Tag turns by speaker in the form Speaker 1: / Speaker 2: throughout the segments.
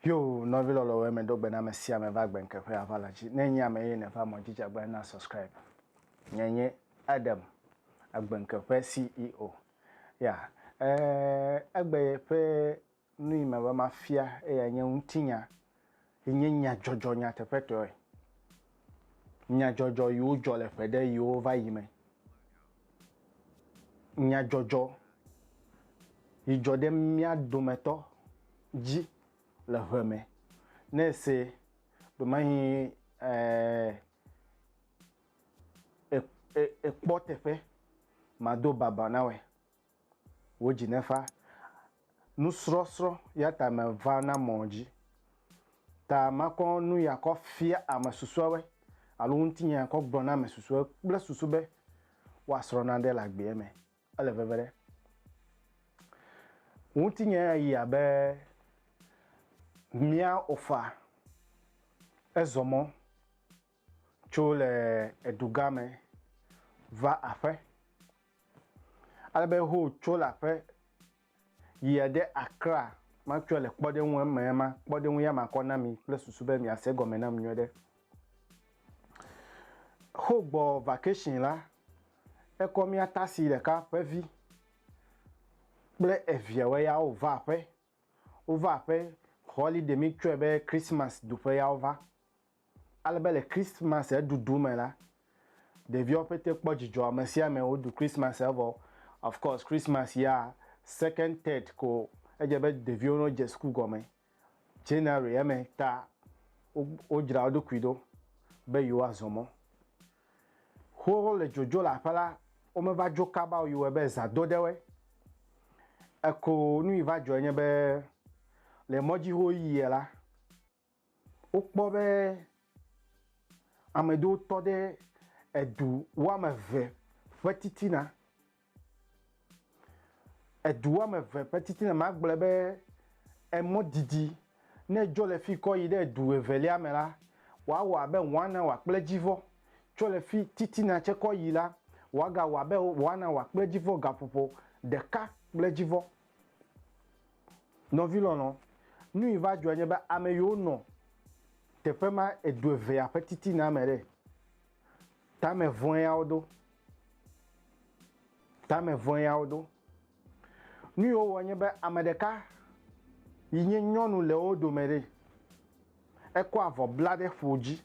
Speaker 1: Yo, nɔvi lɔlɔwo eme do gbe na ame sia ame va gbe nkeƒe ava la dzi. Ne nye ame ye ne va mɔ jija gbe na subscribe. Nye nye Adam, agbe nkeƒe CEO. Ya, eh, egbe ye ƒe Nu yi meva mafia eyae nye ŋutinya yi nye nyadzɔdzɔ nyateƒetɔe, nyadzɔdzɔ yiwo dzɔ le ƒe ɖe yiwo va yi me, nyadzɔdzɔ yi dzɔ ɖe mía dometɔ dzi le ʋe me. Ne èse domehi ekpɔ teƒe mado baba na wòa? wo dzi ne fa nusrɔsrɔ yata me va na mɔ dzi ta makɔ nu ya kɔ fia ame susuawe alo ŋutinye ya kɔ gblɔ na ame susuawe kple susu be wa srɔ na ɖe le agbea me ele veve ɖe ŋutinye ya yi abe mia ofa ezɔmɔ Tso le edu gã me va aƒe. Ale be ho tso le aƒe yia ɖe Accra matsɔe le kpɔɖeŋu eme ema kpɔɖeŋu ya makɔ na mi kple susu be miase egɔme nam nyuie ɖe. Ho gbɔ vacation la, ekɔ mía tasi ɖeka ƒe vi kple eviawo ya wova aƒe. Wova aƒe holiday mi tsɔe be Christmas ɖuƒe ya wova. Ale be le Christmas ɖuɖu me la, ɖeviawo pete kpɔ dzidzɔ, ame sia ame woɖu Christmas evɔ. Of course, Christmas ya second, third ko edze be ɖeviwo no dze suku gɔme. January eme ta wo dzra wo ɖokui ɖo be yewoa zɔ mɔ. Xoxo le dzodzo le aƒe la, wo me va dzo kaba o, yi wɔe be zã do ɖe woe. Eko nu yi va dzɔe nye be le mɔdzi ho yiyɛ la, wokpɔ be ame ɖewo tɔ ɖe edu woame eve ƒe titina. Edu woame eve ƒe titina, maa gblɔe be emɔ didi ne dzo le fi kɔ yi ɖe edu evelia me la, woa wɔ abe one hour kple edzi vɔ. Tso le fi titina tse kɔ yi la, woa ga wɔ abe one hour kple edzi vɔ, gaƒoƒo ɖeka kple edzi vɔ. Nɔvi lɔlɔ, nu yi va dzɔe nye be ame yiwo nɔ teƒe ma edu evea ƒe titina me ɖe, tame vɔ̃e ya wo do. Tame vɔ̃e ya wo do. Nu yi wowɔ nye be ame ɖeka yi nye nyɔnu le wo dome ɖe, ekɔ avɔ bla ɖe ƒo dzi.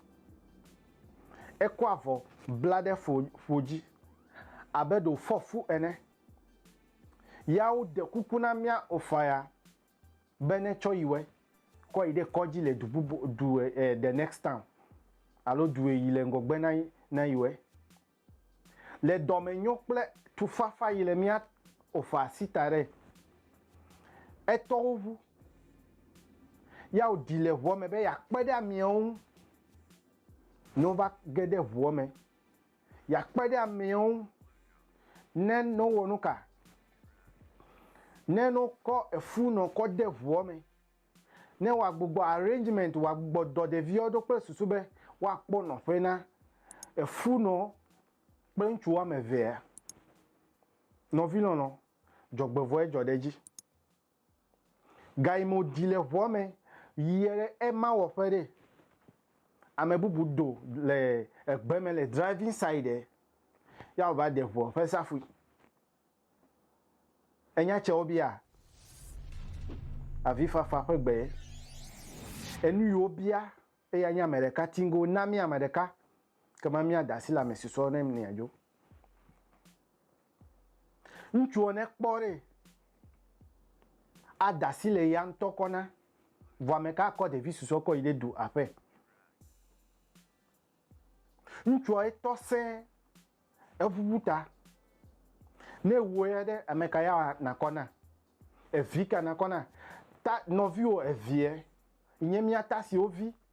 Speaker 1: Ekɔ avɔ bla ɖe ƒo dzi abe ɖe wòfɔ fu ene. Ya wo ɖe kuku na mía ofaya be ne tsɔ yi wɛ kɔ yi ɖe kɔdzi le du bubu du e, e, the next town alo du yi le ŋgɔgbe na na yi wɛ. Le dɔmenyo kple tufafa yi le mía ofa sita ɖe etɔwo ŋu. Ya wo ɖi le ʋua me be ya kpe ɖe amiawo ŋu. Ne wova ge ɖe ʋua me yeakpe ɖe ameawo ŋu ne ne wowɔ nu ka? Ne ne wokɔ efu nɔ kɔ de ŋua me, ne woagbugbɔ arrangement, woagbugbɔ dɔ ɖeviawo ɖo kple susu be woakpɔ nɔƒe na efu nɔ kple ŋutsu woame evea. Nɔvi lɔlɔ, dzɔgbevɔe dzɔ ɖe edzi. Gayi me wòdi le ŋua me yie ɖe ema wɔƒe ɖe. Ame bubu do le egbe me le driving side ɖe. Ya wòva de ŋua ƒe safui. Enya tse wobia avifafa ƒe gbe. Enu yi wobia eya nye ame ɖeka tiŋgo na mí ame ɖeka. Ekema míada asi le ame si sɔ nɛ nea dzo. Ŋutsuɔ ne kpɔ ɖe ada asi le ya ŋutɔ kɔ na, vɔ ame ka akɔ ɖevi susɔ kɔ yi ɖe du aƒe? Ŋutsuɔ etɔ sẽ eʋuʋu ta. Ne ewu ya ɖe ame ka ya nakɔ na? Evi ka nakɔ na? Ta nɔviwo eviɛ nye mía ta siwo vi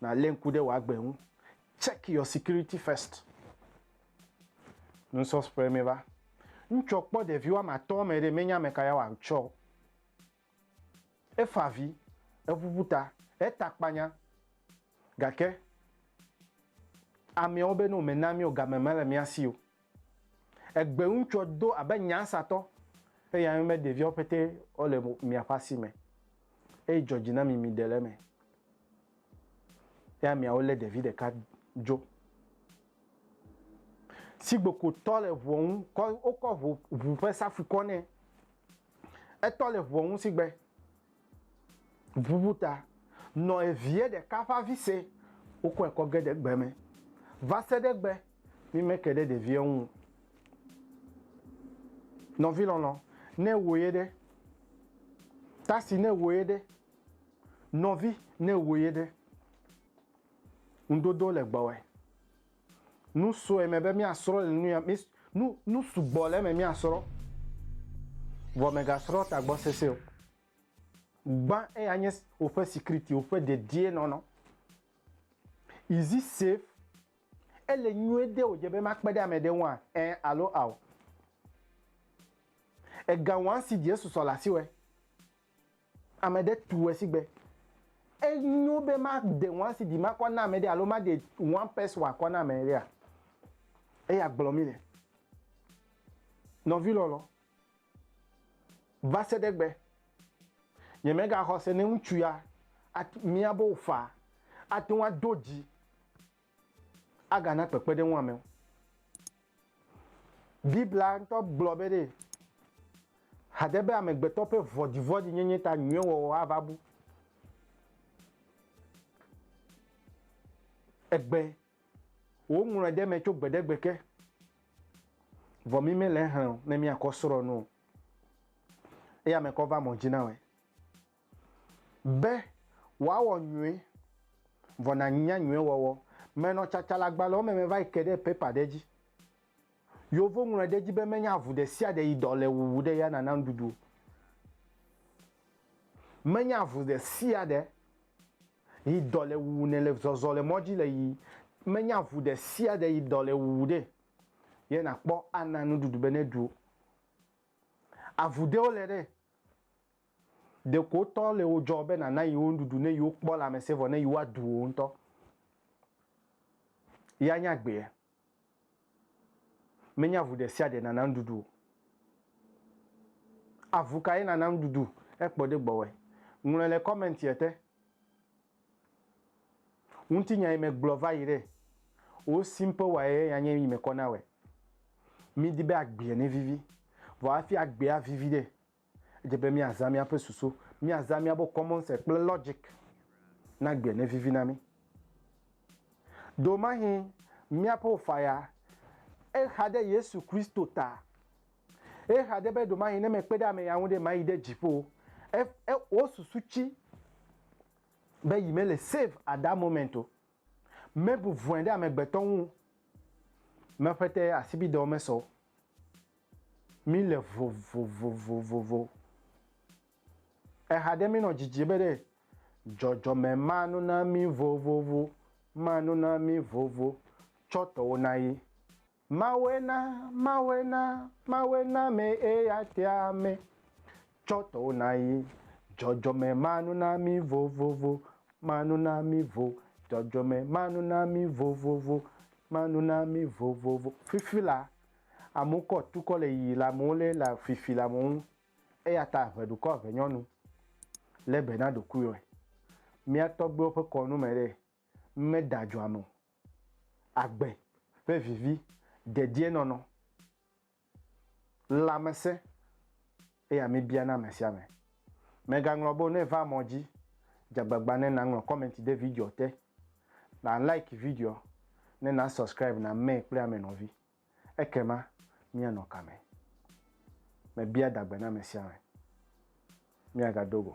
Speaker 1: Nalé ŋku ɖe wò agbe ŋu. Check your security first. Nusɔsƒe me va. Ŋtsɔ kpɔ ɖevi woame atɔ̃ me ɖe, menya ameka ya wòatsɔ o. Efa avi, eʋuʋu ta, eta akpanya, gake ameawo be no, mena mí o, game mele mía si o. Egbe ŋutsɔ do abe nyansatɔ, eye ame be ɖeviawo pete wo le miaƒe asi me, eye dzɔ dzi na mi miɖe le eme. Ya miawo le ɖevi ɖeka dzo. Sigbekotɔ le ʋua ŋu kɔ wokɔ ʋu ƒe safui kɔ nɛ. Etɔ le ʋua ŋu sigbe Ŋuŋu ta nɔ eviɛ ɖeka ƒe avi se, wokɔe kɔ ge ɖe gbe me. Va se ɖe egbe, mí me ke ɖe ɖeviɛ ŋu o. Nɔvi lɔlɔ, ne ewɔ ye ɖe? Tasi, ne ewɔ ye ɖe? Nɔvi, ne ewɔ ye ɖe? Ŋuɖoɖo le gbɔwɛ. Nu sue me be míasrɔ̃ le nuya, mi, nu, nu sugbɔ le eme míasrɔ̃. Vɔ mègasrɔ̃ tagbɔ sese o. Gbã eya nye woƒe sikriti, woƒe dedienɔnɔ. Is it safe? Ele nyuie de wòdze be makpe ɖe ame ɖe ŋua? Ẽ alo ao. Ega wɔã si Yesu sɔ le asiwɔe. Ame ɖe tue sigbe. Enyo be maɖe one CD makɔ na ame ɖe alo maɖe one pes wòakɔ na ame ɖea? Eya gblɔ mí le. Nɔvi lɔlɔ, va se ɖe egbe, nyemegaxɔ se ne ŋutsu ya mía be wòfaa ate ŋu ado dzi agana kpekpeɖeŋu amewo. Biblia ŋutɔ gblɔ be ɖe hade be amegbetɔ ƒe vɔ̃ɖivɔ̃ɖi nyenye ta nyuie wɔwɔ ava bu egbe. Woŋlɔe ɖe eme tso gbe ɖe gbe ke. Vɔ mi mele exlẽ o ne miakɔ srɔ̃ nu o. Eya me kɔ va mɔ dzi na wɔe. Be wòawɔ nyuie, vɔ nànya nyuie wɔwɔ. Menɔ tsatsaleagbalẽwo me meva yi ke ɖe pepa ɖe dzi. Yewo ŋlɔe ɖe edzi be menye avu ɖe sia ɖe yi dɔ le wuwu ɖe ya nana nuɖuɖu o. Menye avu ɖe sia ɖe yi dɔ le wuwu nɛ le zɔzɔ le mɔ dzi le yi menye avu ɖe sia ɖe yi dɔ le wuwu ɖe ye nakpɔ ana nuɖuɖu be neɖu o. Avu ɖewo le ɖe Ɖeko tɔ le wo dzɔ be nàna yewo nuɖuɖu ne yewo kpɔ lãmesẽ vɔ ne yewoa du wò ŋutɔ ya nya gbea? Menye avu ɖe sia ɖe nàna nuɖuɖu o. Avu kae nàna nuɖuɖu hekpɔ ɖe gbɔwòe? Ŋlɔe le kɔmɛntia te. Ŋutinya yi megblɔ va yi ɖe wo simple wa ye ya nye yi mekɔ na wɔe. Midi be agbea nevivi. Vɔ hafi agbea avivi ɖe, Edze be míazã míaƒe susu, míazã míaƒe common sense kple logic na gbea nevivi na mí. Do mahi míaƒe ofaya exa ɖe Yesu Kristo ta. Exa ɖe be do mahi ne mekpe ɖe ame ya ŋu ɖe mayi ɖe dziƒo. E, e, wo susu tsi be yi mele save at that moment o. Mebu vɔe ɖe amegbetɔ ŋu. Meƒete asibidɔ mesɔ o. Mí le vovovovovovo. Eha ɖe mí nɔ dzidzi be ɖe dzɔdzɔme ma nu na mí vovovo, ma nu na mí vovo tsɔ tɔwo na ye. Mawɔe na, mawɔe na, mawɔe na me eya tea me tsɔ tɔwo na ye. Dzɔdzɔme ma nu na mí vovovo, ma nu na mí vo. Dzɔdzɔme ma nu na mí vovovo, ma nu na mí vovovo. Fifi la, Amewo kɔ tukɔ le yiyi le amewo lé le fifi le amewo ŋu. Eya ta ʋe ɖukɔ ʋe nyɔnu. Lé be na ɖokuiwɔe. Mía tɔgbuiwo ƒe kɔnu me ɖee, meda dzo ame o. Agbe ƒe vivi, dedienɔnɔ, lãmesẽ, eya míbia na ame sia ame. Mègaŋlɔ be o ne va mɔ dzi. Dze agbagba ne naŋlɔ kɔmɛnti ɖe videoa te, na like videoa, ne na subscribe na mɛ kple ame nɔvi. Ekema míanɔ ka me? Mebia dagbe na ame sia ame. Míagado go.